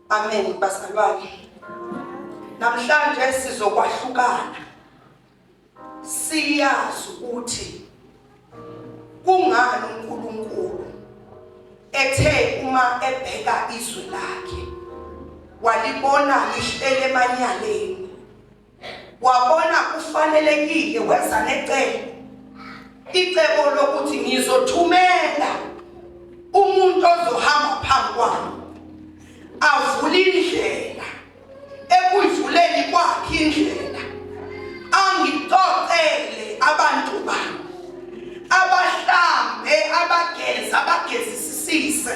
Amen bazalwane. Namhlanje sizokwahlukana. Siyazi ukuthi kungani uNkulunkulu ethe uma ebheka izwe lakhe walibona lihlele emanyaleni wabona kufanelekile weza necebo icebo lokuthi ngizothumela umuntu ozohamba phambi kwami avule indlela ekuyivuleni kwakhe indlela angixoxele abantu bami abahlambe abageza abagezisise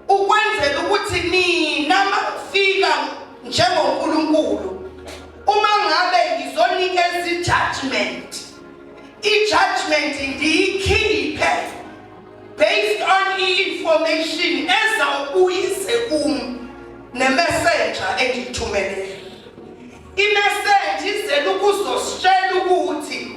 ukwenzela ukuthi nina makufika njengoNkulunkulu uma ngabe ngizonikeza i-judgment i-judgment ndiyikhiphe based on i-information ezawubuyise kum nemessenger engiyithumelele imessage izele ukuzositshela ukuthi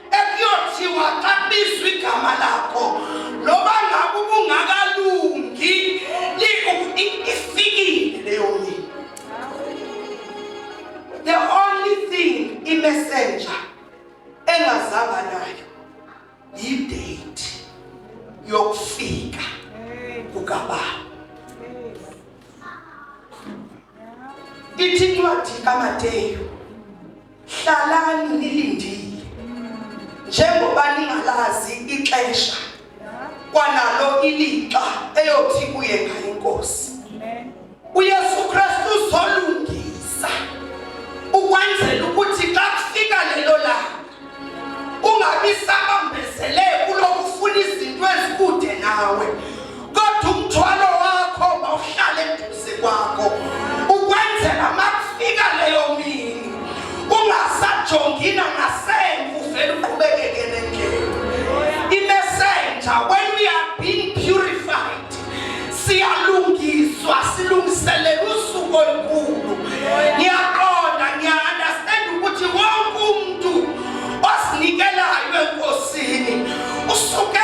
ekuyothiwa xa kubizwa igama lakho noba ngabe ubungakalungi ifikile leyo mini the only thing imessenger engazanga nayo yidate yokufika kukababa ithi incwadi kamateyu hlalani nilindile njengoba ningalazi ixesha kwanalo ilixa eyothi kuye ngayo inkosi uyesu kristu uzolungisa ukwenzela ukuthi xa kufika lelo langa ungabi sabambezele kulokufuna izinto ezikude nawe kodwa umthwalo wakho mawuhlale eduze kwakho ukwenzela makufika leyo mini ungasajongina ngasemvu vele uqhubekeke nendlela imessenger when we are being purified siyalungiswa silungiselela usuku olukhulu ngiyaqonda ngiya understand ukuthi wonke umuntu osinikelayo enkosini usuke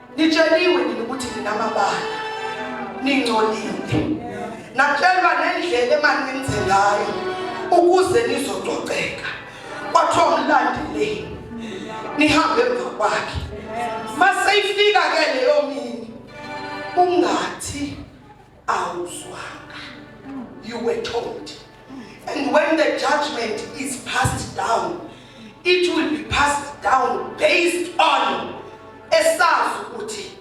Nitsheliwe nini ukuthi ninamabala? Ningcolile. Natshelwa nendlela emane nenze ngayo ukuze nizococeka. Kwathiwa mlandele. Nihambe emva kwakhe. Maseyifika ke leyo mini ungathi awuzwanga you were told and when the judgment is passed down it will be passed down based on esazi ukuthi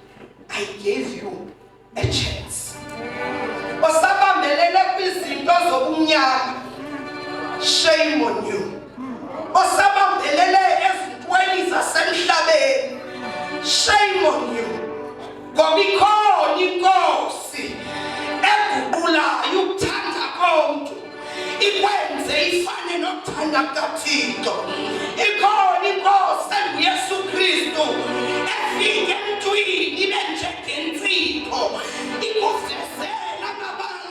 i gave you a chance osabambelele kwizinto zobumnyama shame on you osabambelele ezintweni zasemhlabeni shame on you Ngoba ikhona inkosi eguqulayo ukuthanda konke ikwenze ifane nokuthanda kukaThixo. Ikhona inkosi enguYesu Kristu efike emntwini ibe njengensipho ikuvezela amabala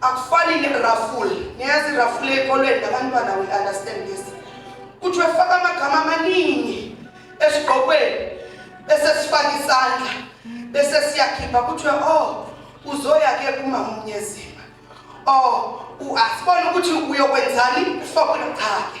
Akufani ne-raffle. Niyazi i-raffle ekolweni nabantwana we understand this. Kuthiwe faka amagama amaningi esigqokweni bese sifaka isandla bese siyakhipha kuthiwe oh uzoya ke kumamunyezima. Oh uasibona ukuthi uyokwenzani ufakwe cha ke.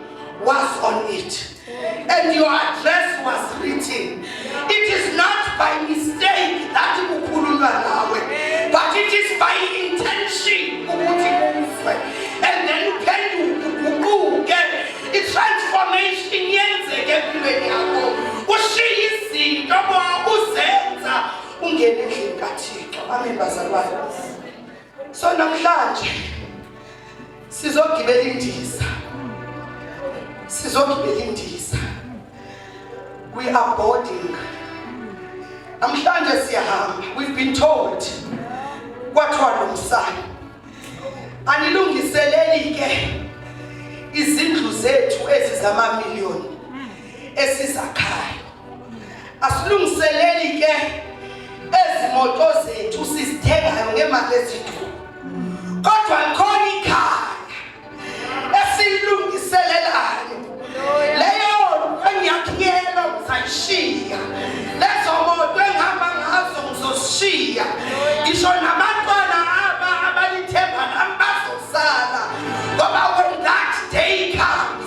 was on it and your address was written it is not by mistake that kukhulunywa nawe but it is by intention ukuthi uzwe and then uphenduke uguquke i-transformation yenzeke empilweni yakho ushiye izinto uzenza ungene endlini kathixo amen bazalwane so namhlanje sizogibela indiza sizogibela indiza we are boarding namhlanje siyahamba we've been told kwathiwa nomsana anilungiseleli ke izindlu zethu ezizamamiliyoni esizakhayo asilungiseleli ke ezimoto zethu sizithengayo ngemali eziduru kodwa khona ikhaya esilungiselelayo leyo engiyakhiyela ngizayishiya lezo moto engihamba ngazo ngizosishiya ngisho nabantwana aba abalithemba nami bazosala ngoba when that day comes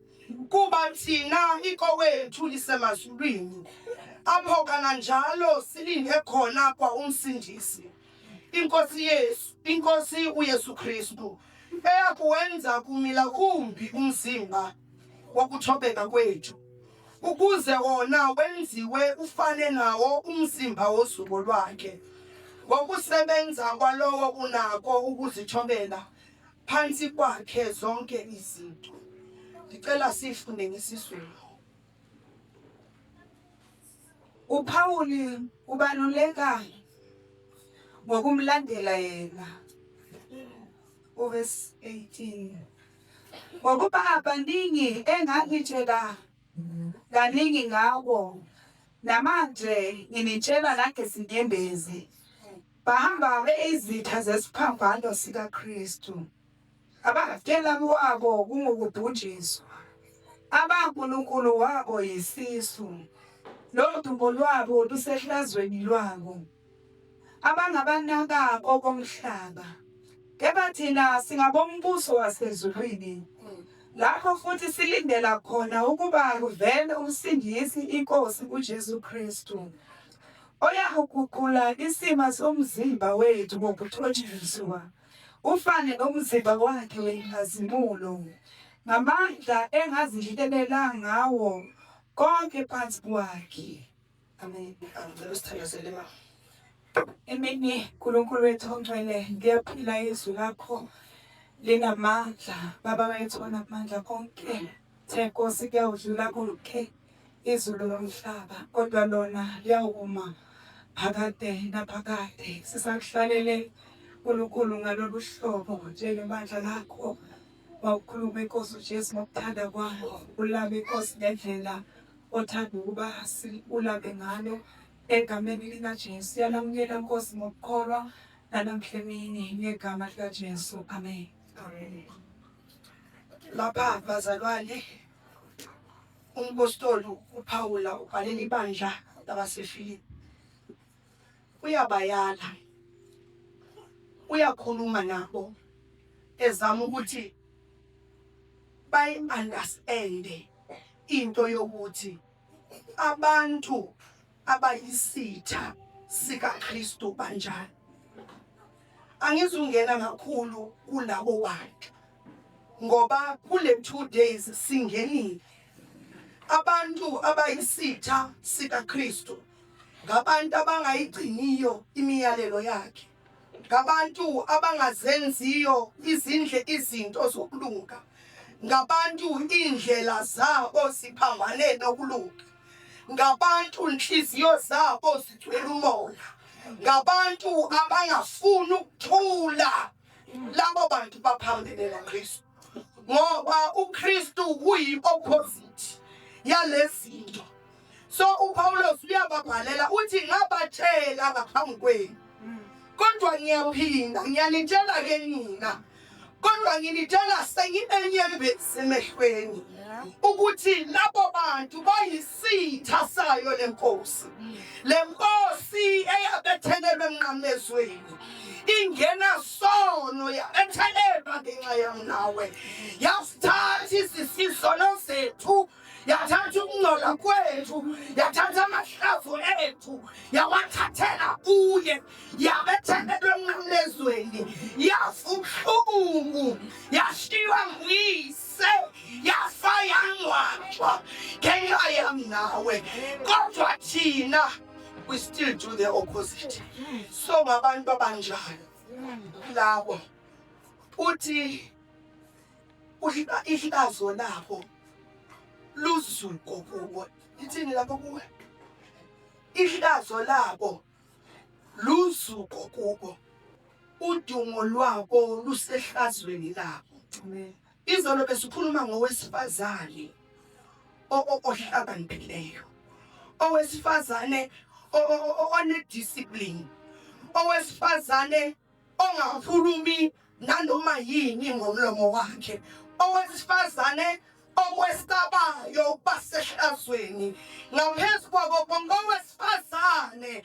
kuba thina ikowethu lisemazulwini apho kananjalo silinde khona kwa umsindisi inkosi yesu inkosi uyesu kristu eyakuwenza kumila kumbi umzimba wokuthobeka kwethu ukuze wona wenziwe ufane nawo umzimba wozuko lwakhe ngokusebenza kwalowo unako ukuzithobela Phansi kwakhe zonke izinto. Ngicela sifunde ngesizulu. UPawuli ubaluleka ngokumlandela yena. Uverse 18. Ngokuba abaningi engangitshela kaningi ngawo namanje nginitshela nangezinyembezi Bahamba beyizitha zesiphambano sikaKristu. Abafela kwabo kungukubhunjiswa. Abankulunkulu wabo yisisu. Lodumo lwabo lusehlazweni lwabo. Abangabanaka okomhlaba. Kepha thina singabombuso wasezulwini lapho futhi silindela khona ukuba kuvele umsindisi inkosi uJesu Kristu oyakuguqula isima somzimba wethu ngokuthotshiswa ufane nomzimba wakhe wenkazimulo ngamandla engazihlelela ngawo konke phansi kwakhe amen angicela usithandazele ma emini nkulunkulu wethu ongcwele ngiyaphila izwi lakho linamandla baba wethu onamandla konke the nkosi kuyawudlula konke okay. izulu nomhlaba kodwa lona liyawuma phakade naphakade sisakuhlalele uNkulunkulu ngalolu hlobo njengebandla lakho wawukhuluma inkosi uJesu ngokuthanda kwakho ulame inkosi ngendlela othanda ukuba ulame ngalo egameni likaJesu yalamukela inkosi ngokukholwa nanamhla emini ngegama likaJesu amen lapha bazalwane Umpostoli uPawula ubhalela ibandla labaseFilipi. Uyabayala. Uyakhuluma nabo ezama ukuthi bayi-understande into yokuthi abantu abayisitha sikaKristu banjani. Angizungena kakhulu kulabo bantu ngoba kule two days singenile abantu abayisitha sikaKristu ngabantu abangayigciniyo imiyalelo yakhe ngabantu abangazenziyo izindle izinto zokulunga ngabantu iindlela zabo ziphambane nokulunga ngabantu nhliziyo zabo zigcwele umoya ngabantu abangafuni ukuthula labo bantu baphambene naKristu ngoba uKristu uyi-opposite yalezinto so uPawulos uyababhalela uthi ngabatshela ngaphambi kwenu kodwa ngiyaphinda ngiyanitshela ke nina kodwa nginitshela senginenyembezi emehlweni ukuthi labo bantu bayisitha sayo lenkosi lenkosi eyabethelelwe emnqamezweni ingenasono yabethelelwa ngenxa yam nawe yasithatha izisisono zethu yathatha ukungcola kwethu yathatha amahlazo ethu yawathathela kuye yabethelelwa emnqamlezweni yafa ubuhlungu yashiywa nguyise yafa yangcwatshwa ngenxa yam nawe kodwa thina we still do the opposite so ngabantu abanjalo lawo uthi ihlazo labo luzuko kubo ithini lapho kuwe ihlazo labo luzuko kubo udumo lwabo lusehlazweni labo Izolo besikhuluma ngowesifazane ohlakaniphileyo, owesifazane onediscipline, owesifazane ongakhulumi nanoma yini ngomlomo wakhe, owesifazane okwesabayo ukuba sehlazweni ngaphezu kwabo bonke owesifazane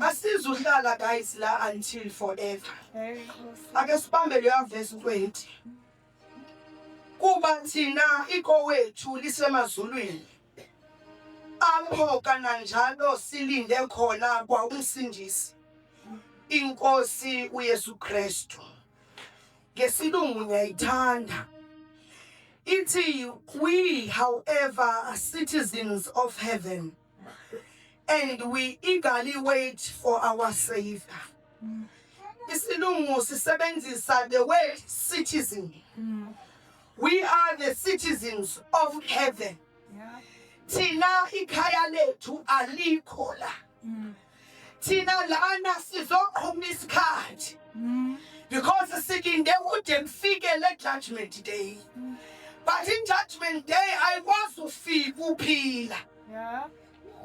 Asizuhlala guys la until forever. Ake sibambe leyo verse 20. Kuba thina ikowethu lisemazulwini. Apho kananjalo silinde khona kwa umsindisi. INkosi uYesu Kristu. Ngesilungu ngiyayithanda. Ithi we however are citizens of heaven. and we eagerly wait for our savior isilungu sisebenzisa the word citizen we are the citizens of heaven thina ikhaya lethu alikho la thina lana sizoqhuma isikhathi mm. because silinde kude kufike le judgment day mm. but in judgment day ayikwazi ufika uphila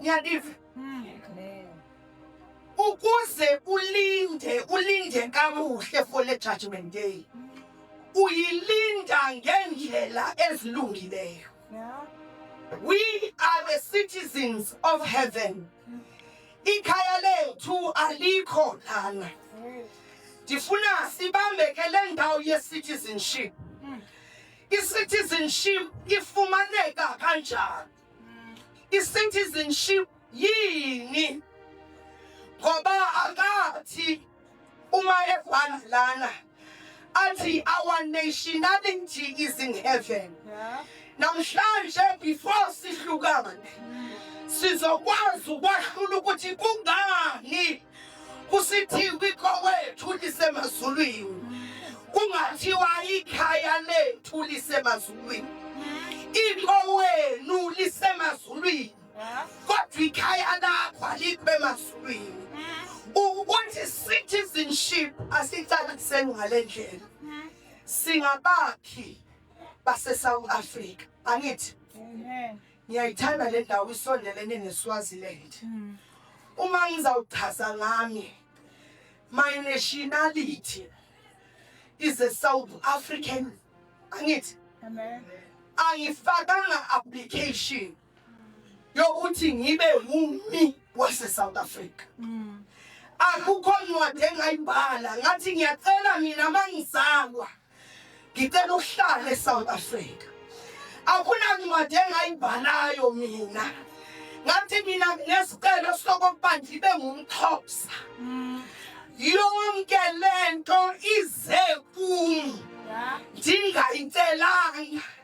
ngiyadiva mm. ukuze ulinde ulinde kamuhle for le judgment day uyilinda ngendlela ezilungileyo We are the citizens of heaven. Ikhaya lethu alikho lana. Ndifuna sibambeke le ndawo ye-citizenship. I-citizenship ifumaneka kanjani? I-citizenship Yini? Ngoba akathi uma evana lana athi our nationality is in heaven. Yeah. Namhlanje before sihlukane sizokwazi ukwahlula ukuthi kungani kusithiwa ikhowethu lisemazulwini kungathiwa ikhaya lethu lisemazulwini ikho wenu lisemazulwini kodwa ikhaya lakho alikube emazulwini ukuthi citizenship asicaliseni ngale ndlela singabakhi base-south africa angithi ngiyayithanda le ndawo isondelene neswaziland hmm. uma ngizawuchaza ngami my nationality is a south african angithi angifakanga application yokuthi ngibe wumi wase South Africa mm. akukho ncwadi engayibhala ngathi ngiyacela mina mangizalwa ngicela uhlale eSouth Africa akuna ncwadi engayibhalayo mina ngathi mina ngesicelo sokuba ngibe ngumxhosa mm. yonke lento ize kum ndingayicelanga yeah.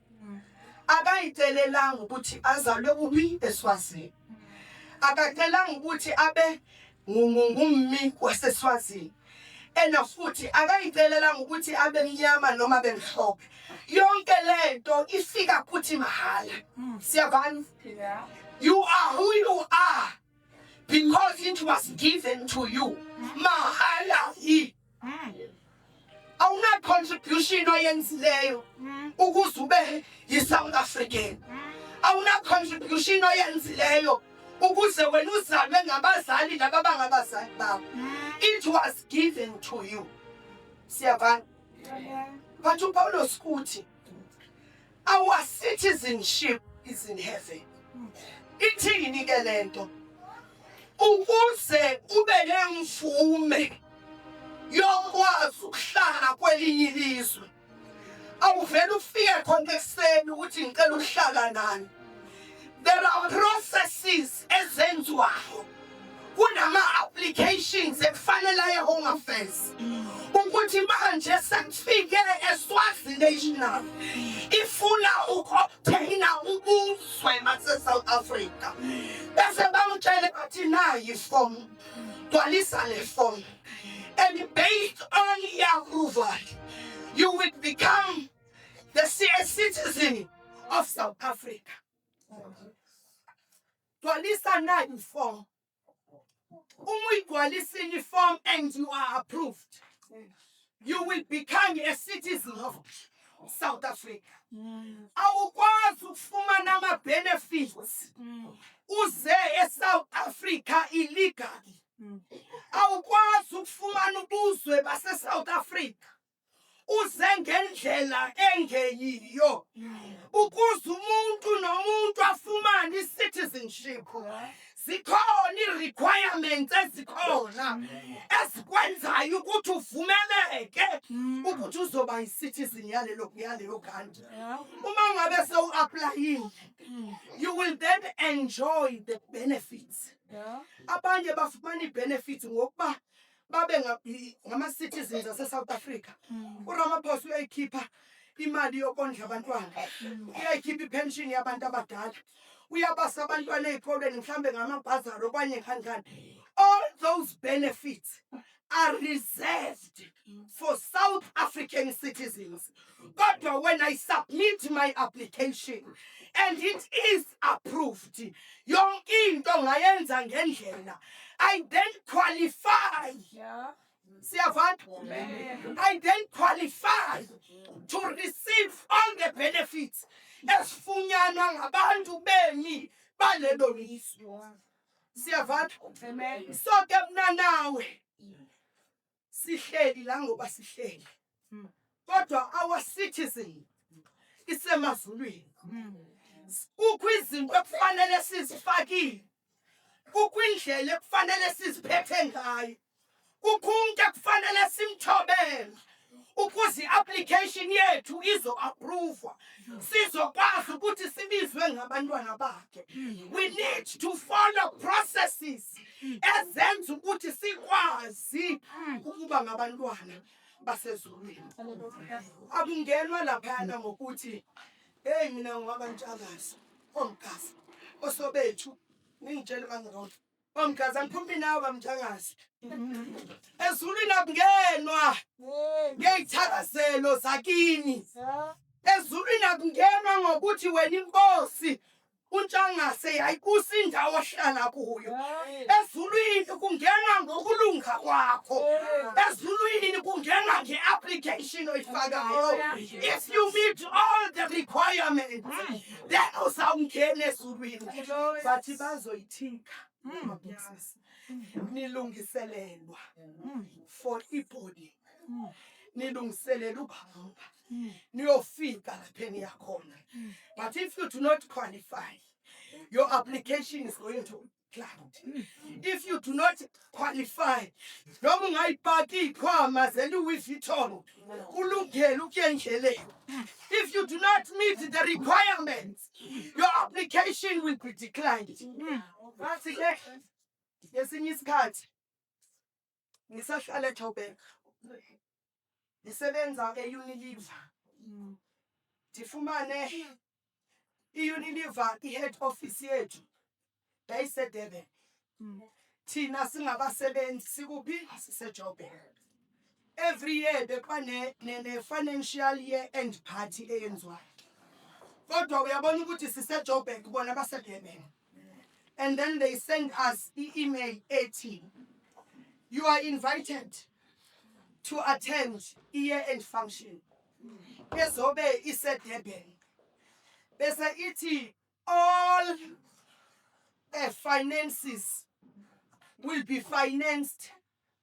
akayicelelanga ukuthi azalwe kuphi eSwazini akacelanga ukuthi abe ngummi waseSwazini ena futhi akayicelelanga ukuthi abe mnyama noma bemhlophe yonke lento ifika kuthi mahala hmm. siyabani you are who you are because it was given to you mahala awunacontribution oyenzileyo mm. ukuze ube yi-south african mm. awunacontribution oyenzileyo ukuze wena uzalwe ngabazali laba bangabazali bakho mm. it was given to you siyabana but upawulos uthi Our citizenship is in heaven. Ithini ke lento? Ukuze ube nemvume yokwazi ukuhlala kwelinye ilizwe. Awuvele ufike khona ekuseni ukuthi ngicela ukuhlala nani. There are processes ezenziwayo kunama-applications ekufanele aye home affairs ukuthi manje sekufike eswazi national ifuna uku-obtaina ubuzwe basesouth africa bese bamtshele bathi nayi ifomu gcwalisa le fomu and based on your approval you will become the citizen of South Africa. Gcwalisa nine form. Uma uyigcwalisile iform and you are approved, you will become a citizen of South Africa. Awukwazi ukufumana ama benefits uze eSouth Africa illegally. Awukwazi ukufumana ubuzwe base South Africa. uze ngendlela engeyiyo ukuze umuntu nomuntu afumane i-citizenship zikhona ii-requirements ezikhona ezikwenzayo ukuthi uvumeleke ukuthi uzoba yi-citizen yalelo yaleyo country uma ngabe sewu-aplayile you will then enjoy the benefits abanye bafumana ii-benefits ngokuba babe ngama-citizens ase-south africa mm. uramaphosa uyayikhipha imali yokondla abantwana mm. uyayikhipha ipension yabantu abadala uyabasa abantwana ey'kolweni mhlawumbe ngamabhazari okwanye kanjani all those benefits are reserved for south african citizens kodwa when i submit my application and it is approved yonke into ngayenza ngendlela i then qualify yeah. siyavana i then qualify to receive all the benefits esifunyanwa ngabantu bemi balelo lizwe siyavana so ke mna nawe sihleli la ngoba sihleli mm. kodwa our citizen isemazulwini mm. kukho izinto ekufanele sizifakile kukho indlela ekufanele siziphethe ngayo kukho umuntu ekufanele simthobele ukuze i-application yethu izo-appruvwa sizokwazi ukuthi sibizwe ngabantwana bakhe we need to follow processes ezenza ukuthi sikwazi ukuba ngabantwana basezulwini. Akungenwa laphayana ngokuthi heyi mina ngingaba ntshakazi omgazi osobethu ningitshele bangirona omgazi angiphumi nawe bamntshakazi ezulwini akungenwa ngeyithakazelo zakini ezulwini akungenwa ngokuthi wena inkosi uNtshangase yayibusa indawo ohlala kuyo ezulwini kungena ngokulunga kwakho ezulwini kungena nge-application oyifakayo if you meet all the requirements then uzawungena ezulwini bathi bazoyithinka nilungiselelwa for ibody nilungiselela ubaba mm. niyofika lapho eniyakhona mm. but if you do not qualify your application is going to cloud mm. if you do not qualify noma ungayipaki iy'khwama zeluwi vuitton kulungele ukuya endleleni if you do not meet the requirements your application will be declined ngathi ke ngesinye isikhathi ngisahlala eJoburg ngisebenza e-Unilever ndifumane i-Unilever i-head office yethu yayiseDurban thina singabasebenzi sikuphi siseJoburg every year bekuba ne-financial year end party eyenziwayo kodwa uyabona ukuthi siseJoburg bona baseDurban and then they send us i-email ethi you are invited to attend i-year end function ezobe isedurban bese ithi all the finances will be financed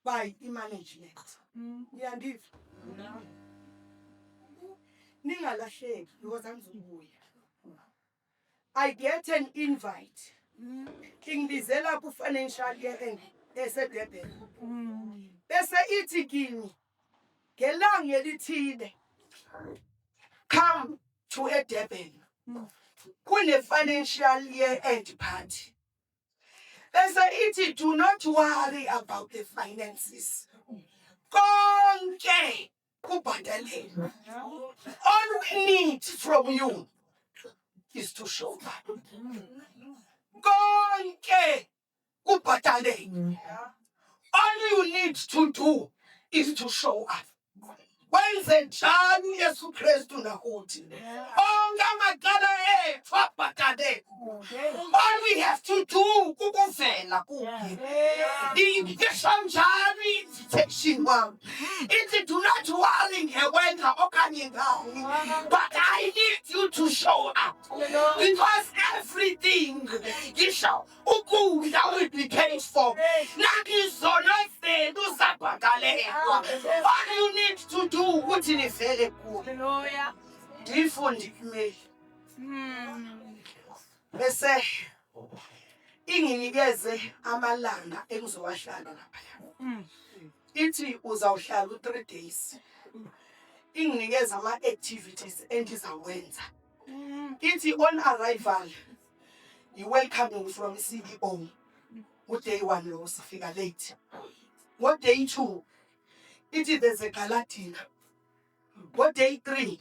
by i-management niyandiva ningalahleki because angizobuya I get an invite. Mm. Ingibizela ku financial year eseDurban. Mm. Bese ithi kimi ngelanga elithile come to eDurban. Mm. Kune financial year end party. Bese ithi do not worry about the finances. Konke kubhadalelwe all we need from you is to show up konke kubhadalelwe all you need to do is to show up wenze njani yesu kristu nakuthi onke amacala ethu abhadalelwe All we have to do kukuvela kuye. Ndiyishamjalo i-invitation wam. Ithi do not worry ngewenza okanye ngani. But I need you to show up. Because everything ngisho ukudla will be paid for. Nakizono zenu zabhakalelwa. All you need to do ukuthi nivele kuye. Ndiyifundile imeli. Hmm. Bese inginikeze amalanga engizowahlala laphaya. Hmm. Ithi uzawuhlala u-three days. Inginikeze ama-activities endizawenza. Hmm. Ithi on arrival, you welcome you from CEO. Uday one lowo sifika late. Ngoday two, ithi there's a gala dinner. Ngo-day three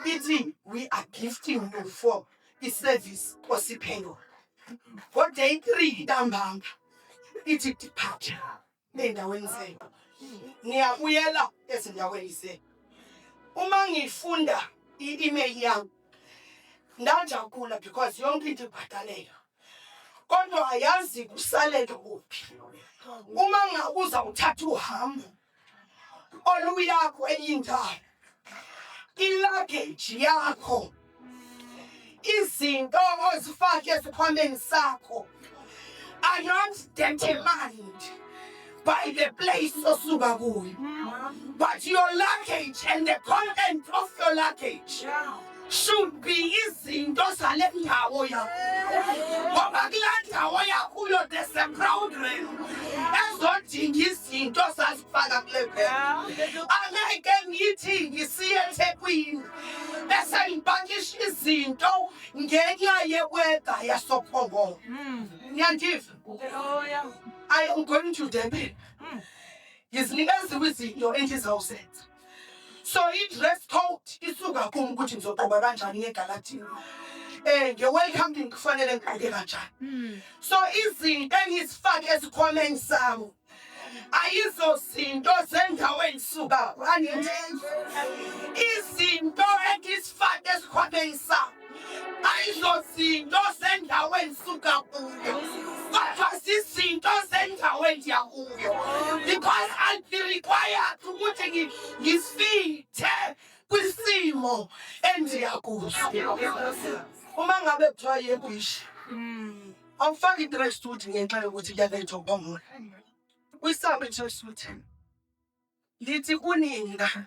ithi we are gifting you for i-service osiphe yona ngo-day three ntambama ithi depart ey'ndaweni zenu ngiyabuyela ezindaweni zenu uma ngifunda i-email yami ndajabula because yonke into ibhadaleka kodwa ayazi kusalele kuphi uma ngakuza uthatha uhambo oluyakho eyindala ilageji yakho izinto ozifake esikhwameni sakho are not determined by the place osuka kuyo but your luggage and the content of your luggage should be izinto zale ndawo yakho ngoba kulaa ndawo yakuyo there's a program ezodinga izinto sazifaka kule phela angeke ngithi ngisiye ethekwini bese ngipakisha izinto ngenxa yeweda yasophongolo hmm. niyandiva i am going to durban hmm. ngizinikezile izinto endizawuzenza so i-dress code isuka kum ukuthi ngizogqoka kanjani ngegaladini um eh, nge-welcome din kufanele ngigqoke kanjani hmm. so izinto engizifake esikhwameni sami ayizozinto zendawo engisuka angithi izinto engizifake esikhwameni sami ayizozinto zendawo endisuka kuyo kodwa zizinto zendawo endiya kuyo because i'll be required ukuthi ngisifithe kwisimo endiya kuso uma ngabe kuthiwa yebhishi hmm. awufaki i-dress suit ngenxa yokuthi kuyanetha ukubamula uyisambe i-dress suit ndithi kunina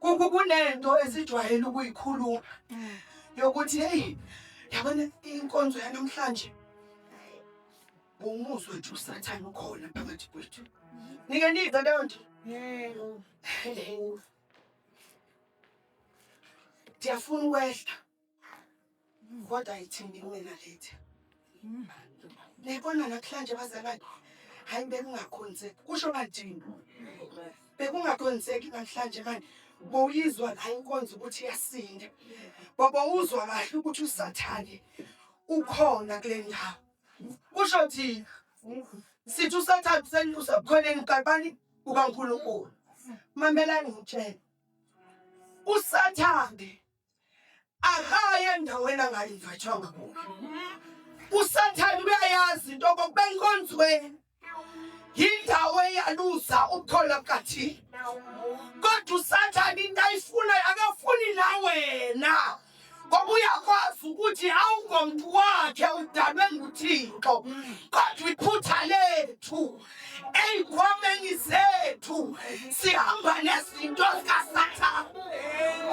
Kuku kunento esijwayele ukuyikhuluma yokuthi hey yabona inkonzo yanamhlanje umuzwe nje usathane ukhona phakathi kwethu. Nike nize leyo nto. Yebo. Ndiyafuna ukwehla. Kodwa ayithini kuwena lethi. Niyibona namhlanje bazalwane. Hayi bekungakhonzeki. Kusho kanjini. Bekungakhonzeki namhlanje manje. Bowuyizwa la inkonzo ukuthi iyasinda. Baba uzwa kahle ukuthi usathane ukhona kule ndawo. Kusho thina. Sithi usathane usenyusa khoneni kabani ukaNkulunkulu. Mamelani ngitshela. Usathane akayi endaweni angalingathanga kuyo usathane uyayazi into kokuba enkonzweni yindawo eyaluza ukukholwa kukathina kodwa usathane into ayifunayo akafuni la wena ngoba uyakwazi ukuthi awungomntu wakhe udalwe nguthixo kodwa iphutha lethu ey'nkomeni zethu sihamba nezinto zikasathane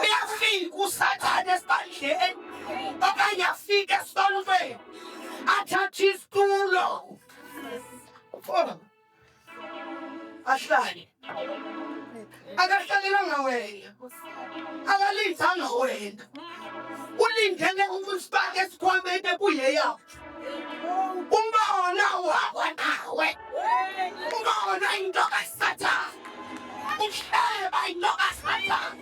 uyafika usathane esibandleni okanye afike esontweni athathe isitulo ahlale akahlalelanga wena akalindanga wena ulindele ukusifaka esikhwameni ekuyeyakho umbona wakwa nawe umbona intoka sathana uhleba intoka sathana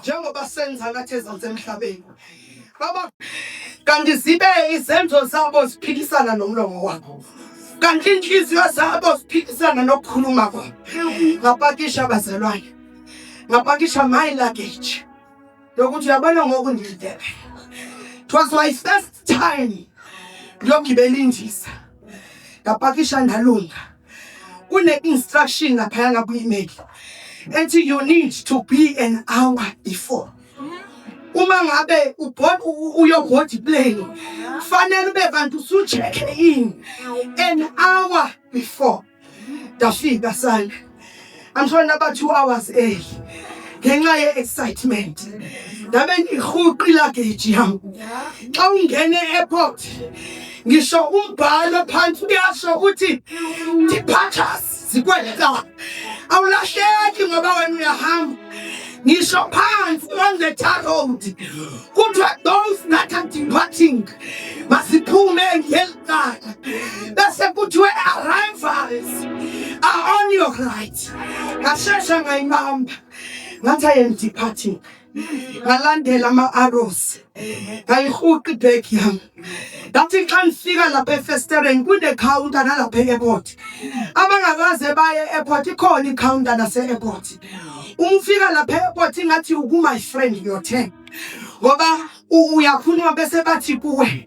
njengoba senza ngathi ezansi emhlabeni baba kanti zibe izenzo zabo ziphikisana nomlomo wabo kanti inhliziyo zabo ziphikisana nokukhuluma kwabo ngapakisha abazalwane ngapakisha my luggage lokuthi uyabona ngoku ngidebe it was my first time ngiyogibela indiza ngapakisha ndalunga kune-instruction laphaya ngakwi-email ethi you need to be an hour before uma ngabe uyoboard plane kufanele ube kanti usucheck in an hour before ndafika sana i'm sure naba 2 hours early ngenxa ye excitement ndabe ngihuqi luggage yam xa ungene airport ngisho umbhalo phansi uyasho ukuthi departures zikweleta awulahleki ngoba wena uyahamba ngisho phansi on the tar road kuthiwa those that are departing masiphume God. That's a good way around fathers are on your right. Ngashesha ngayibamba ngathi I am departing. ngalandela ama-arrows ngayihuqa ibag yami ngathi xa ndifika lapha efestereni kunekhawunta nalapha e-airport abangakaze baye e-airport ikhona ikhawunta nase-airport uma ufika lapha e-airport ingathi uku-my friend your ten ngoba uyakhuluma bese bathi kuwe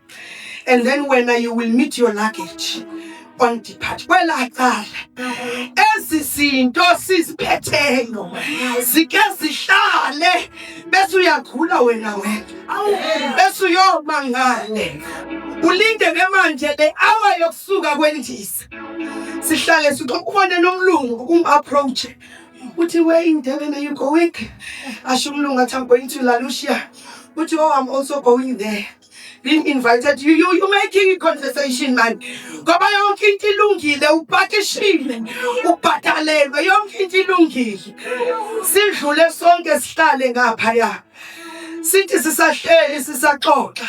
and then wena you will meet your luggage on depart kwela cala ezi zinto siziphetheyo zike zihlale bese uyagula wena wena bese uyoma ngale ulinde ke manje le hour yokusuka kwendiza sihlale sixoxubone nomlungu ukumapproach uthi where in Durban are you going asho umlungu athi I'm going to Lalucia uthi oh I'm also going there being invited you, you, you making a conversation man ngoba yonke into ilungile upakishile ubhadalelwe yonke into ilungile sidlule sonke sihlale ngaphaya sithi sisahleli sisaxoxa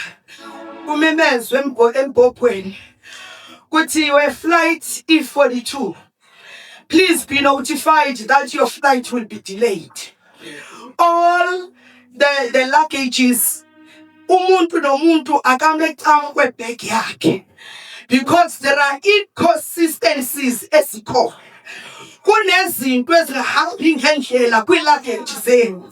umemezwe embhobhweni kuthiwe flight e42 Please be notified that your flight will be delayed. All the, the luggages, umuntu nomuntu akame cam kwebag yakhe because there are inconsistencies ezikhona. Kunezinto ezingahambi ngendlela kwi-luggage zenu.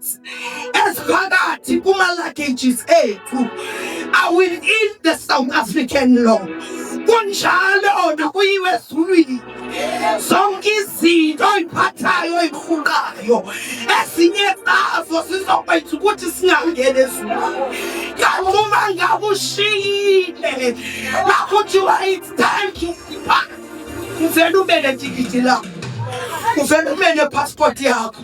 hearts eziphakathi kuma-luggages ethu are within the south african law kunjalo ona kuyiwe ezulwini zonke izinto oyiphathayo oyirhuqayo ezinye zazo zizokwenza ukuthi singangeni ezulwini kanti uma ngabe ushiyile lakho kuthiwa it's time to depart kuvele ube netikiti lakho kuvele ube nepasipoti yakho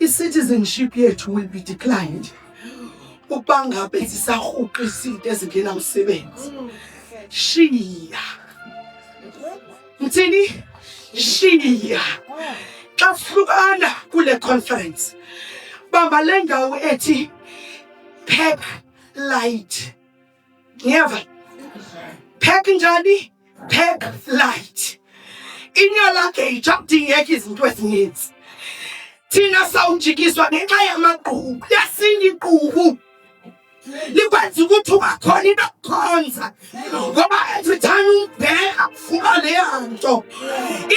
I-citizenship yethu will be declined ukuba ngabe sisahuqa izinto ezingena msebenzi shiya ngithini shiya xa sihlukana kule conference bamba le ndawo ethi pack light ngiyeva pack njani pack light inyolakhe ijabudingeka izinto ezininzi thina sawunjikiswa ngenxa yamagqubu yasinda igqubu likwenza ukuthi ungakhona into okukhonza ngoba every time umbheka uba leya nto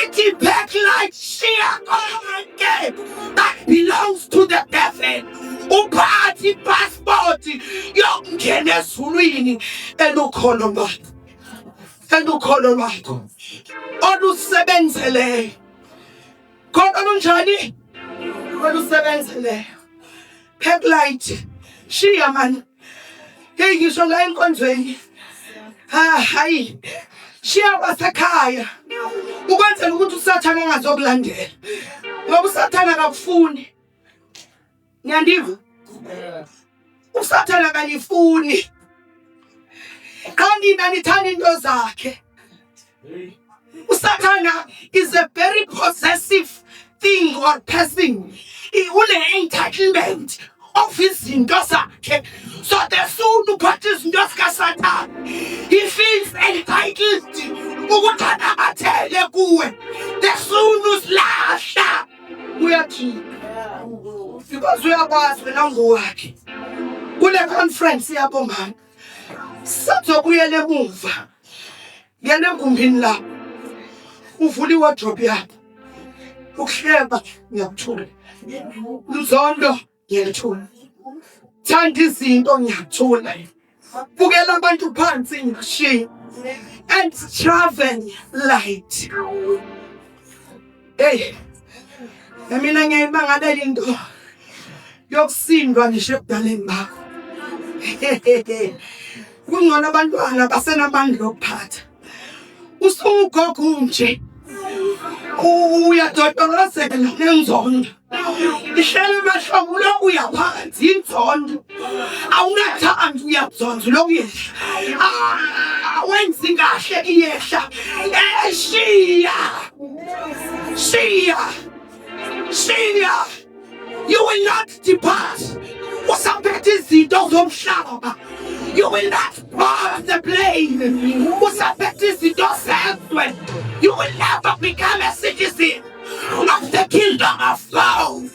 ithi back light shiya konke that belongs to the devil uphathe ipassport yokungena ezulwini elukholo lwakho elukholo lwakho olusebenzeleyo khona lunjani olusebenzeleyo phekulait shiya mani heyi ngisho la enkonzweni hayi shiya kwasekhaya ukwenzela ukuthi usathane angazokulandela ngoba usathane akakufuni Niyandiva? Usathana kanifuni. Qha nina nithanda into zakhe. Usathana is a very possessive thing or person. Une entitlement of izinto zakhe. So the soon uphatha izinto zikaSathana. He feels entitled ukuthi anabathele kuwe. The soon usilahla. uyathini because uyakwazi wena ngowakhe kule conference yabo mama sizokuyela emuva ngena egumbini lapho uvula iwardrobe yakho ukuhleba ngiyakuthula luzondo ngiyathula thanda izinto ngiyathula bukela abantu phansi ngishiya and travel light hey mina ngiyimangalela into yokusindwa ngisho ebudaleni bakho kungcono abantwana basenamandla okuphatha usugogo nje uyadodolozeka nenzondo ihlele emahlobo ulokhu uyaphansi inzondo awunathandi uyabzonza ulokhu uyehla ah, awenzi kahle iyehla eshiya shiya Senior, you will not depart. Usaphethe izinto zomhlaba. You will not board the plane. Usaphethe izinto zezwe. You will never become a citizen of the kingdom of God.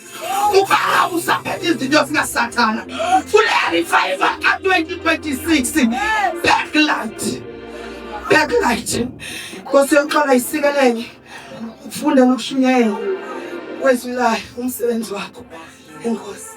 Ubaba usaphethe izinto zikaSathana. Fulela revival ka-2026. Backlight. Backlight. Nkosi yoxola isikelele. ukufunda nokushunyayela kwezwi layo umsebenzi wakho enkosi